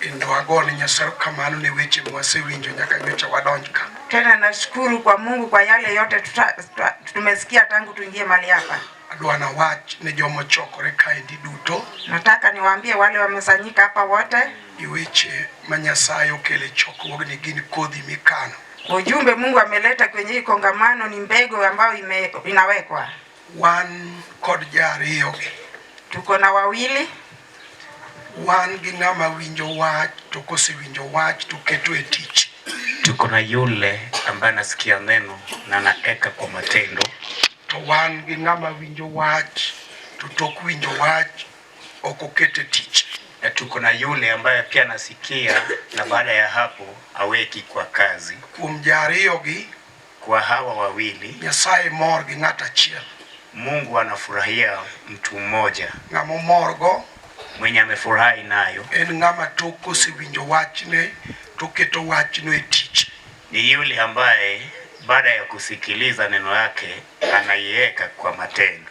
Kendo agone Nyasaye kamano ne weche mwasewinjo nyaka nyocha wadonj ka. Tena nashukuru kwa Mungu kwa yale yote tuta, tuta, tumesikia tangu tuingie mali hapa. Adwa na wach ne jomo chokore kaendi duto. Nataka niwaambie wale wamesanyika hapa wote. Ni weche ma Nyasaye okele chokruogni gin kodhi mikano. Ujumbe Mungu ameleta kwenye hii kongamano ni mbegu ambayo ime, inawekwa. Wan kod ja ariyo gi. Tuko na wawili. Wan gi ng'ama winjo wach to kosewinjo wach to keto e tich. Tuko na yule ambaye anasikia neno na anaeka kwa matendo. To wan gi ng'ama winjo wach to tok winjo wach ok oket e tich. Na tuko na yule ambaye pia anasikia na baada ya hapo aweki kwa kazi. Kuom ja ariyo gi. kwa hawa wawili. Nyasaye mor gi ng'at achiel. Mungu anafurahia mtu mmoja. Ng'ama omorgo mwenye amefurahi nayo en ng'ama tok osewinjo wachne to keto wachno e tich. Ni yule ambaye baada ya kusikiliza neno lake anaiweka kwa matendo.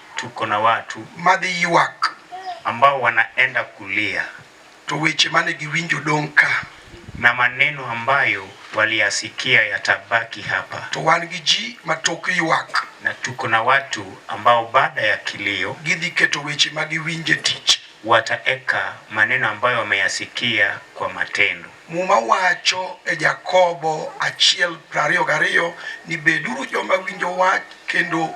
Tuko na watu madhi ywak. ambao wanaenda kulia To weche mane giwinjo dong' ka. na maneno ambayo waliyasikia yatabaki hapa, To wan gi ji ma tok ywak. na tuko na watu ambao baada ya kilio Gidhi keto weche ma giwinjo e tich. wataeka maneno ambayo wameyasikia kwa matendo. Muma wacho e Jakobo 1:22 ni beduru joma winjo wach kendo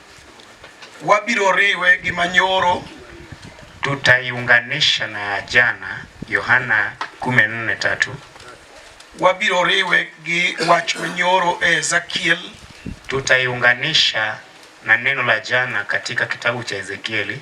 Wabiro riwe gi manyoro. Tutaiunganisha na ya jana, Yohana 14:3. Wabiro riwe gi wach manyoro e Ezekiel. Tutaiunganisha na neno la jana katika kitabu cha Ezekieli.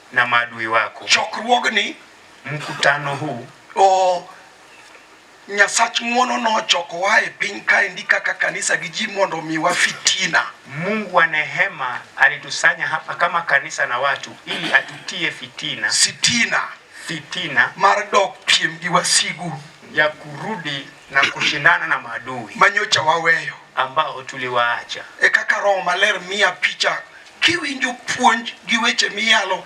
na maadui wako. Chokruogni, mkutano huu, o Nyasach ng'wono nochokowa e piny kaendi kaka kanisa gi ji mondo omiwa fitina. Mungu wa nehema alitusanya hapa kama kanisa na watu ili atutie fitina, sitina, fitina mar dok piem gi wasigu ya kurudi na kushindana na maadui manyocha waweyo ambao tuliwaacha. E kaka Roho Maler miya picha Kiwinjo puonj gi weche miyalo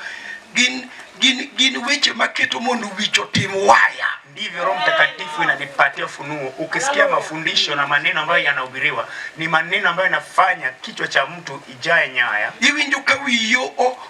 gin gin gin weche maketo mondo wich otim waya. Ndivyo Roho Mtakatifu inanipatia funuo. Ukisikia mafundisho na maneno ambayo yanahubiriwa, ni maneno ambayo yanafanya kichwa cha mtu ijae nyaya. Iwinjo ka wiyi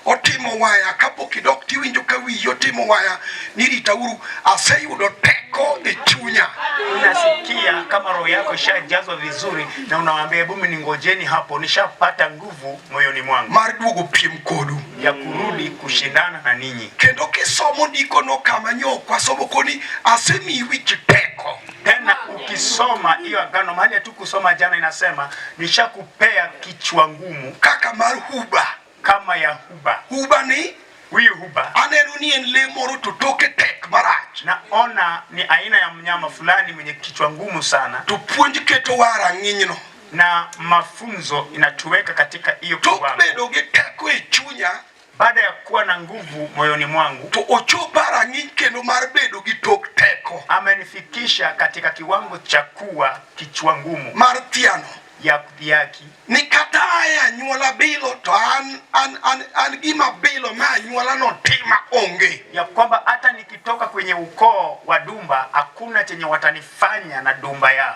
otimo waya kapok idok, tiwinjo ka wiyi otimo waya, niritauru, aseyudo teko e chunya. Unasikia kama roho yako ishajazwa vizuri, na unawaambia hebu ningojeni hapo, nishapata nguvu. nguvu moyoni mwangu mar duogo piem kodu ya kurudi kushindana na ninyi. Kendo kisomo ndikono kama nyok wasomo koni asemi wich peko tena ukisoma hiyo agano mahali hatukusoma jana, inasema nishakupea kichwa ngumu kaka mar huba, kama ya huba. Huba ni huyu huba, aneno ni en le moro to toke tek marach, naona ni aina ya mnyama fulani mwenye kichwa ngumu sana. Tupuonj keto wa rang'inyno na mafunzo inatuweka katika hiyo kiwango. Baada ya kuwa na nguvu moyoni mwangu, to ochopa rang'iny kendo mar bedo gi tok teko, amenifikisha katika kiwango cha kuwa kichwa ngumu mar thiano ya kudhiaki ni kata aya anyuola bilo to an, an, an, an gima bilo ma anyuola no tima onge, ya kwamba hata nikitoka kwenye ukoo wa Dumba hakuna chenye watanifanya na Dumba yao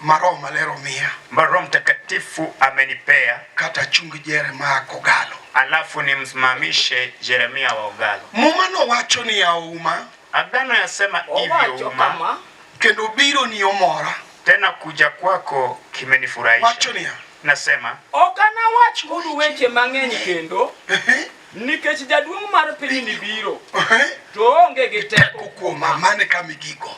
ma Roho Maler omiya, ambayo Roho Mtakatifu amenipea, kata achung Jeremia kogalo, alafu nimsimamishe Jeremia wa ogalo. Muma nowacho ni auma, agano yasema hivyo uma, kendo biro ni omora, tena kuja kwako kimenifurahisha. Wacho ni nasema ok anawach kudu weche mang'eny kendo nikech jaduong' mar pinyni biro to onge gi teko kuoma. Mane kama igigo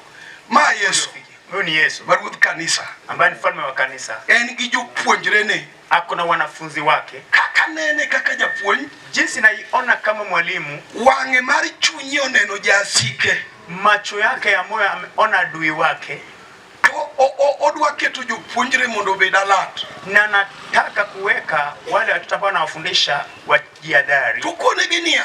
ma Yesu Huyu ni Yesu ma ruodh kanisa, ambaye ni mfalme wa kanisa. En gi jopuonjrene, ako na wanafunzi wake. Kaka nene kaka japuonj, jinsi naiona kama mwalimu. Wang'e mar chunye oneno jasike, macho yake ya moyo ameona adui wake. Odwa keto jopuonjre mondo obed alert, na nataka kuweka wale watoto ambao nawafundisha wajihadhari. Tukonegi nia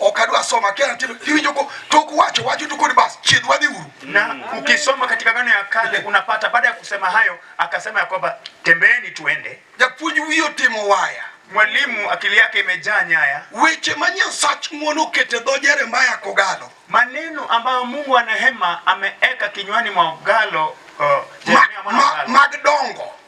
ok adwa soma kia natindo iwinjo ko tok wacho wacho tu kodi bas chiedh wadhi uru. Na ukisoma katika gano ya kale unapata baada ya kusema hayo akasema ya kwamba tembeeni tuende. Japuonj wiye otimo waya. Mwalimu akili yake imejaa nyaya. Weche ma Nyasach ng'wono okete dho Jeremaya kogalo. Maneno ambayo Mungu anahema ameeka kinywani mwa ogalo uh, Jeremia mwana wa Galo. Mag dongo.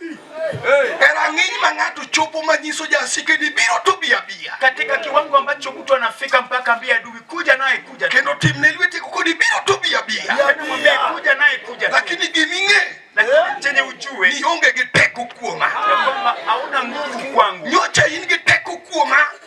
E rang'iny ma ng'ato chopo manyiso jasike ni biro to bi abiya, katika kiwango ambacho mtu anafika mpaka ambia adui kuja naye kuja, kendo timne lwete kuko ni biro to bi abiya, mwambie kuja naye kuja, lakini giming'e lakini chenye ujue ni onge gi teko kuoma, ya kwamba hauna nguvu kwangu, nyocha in gi teko kuoma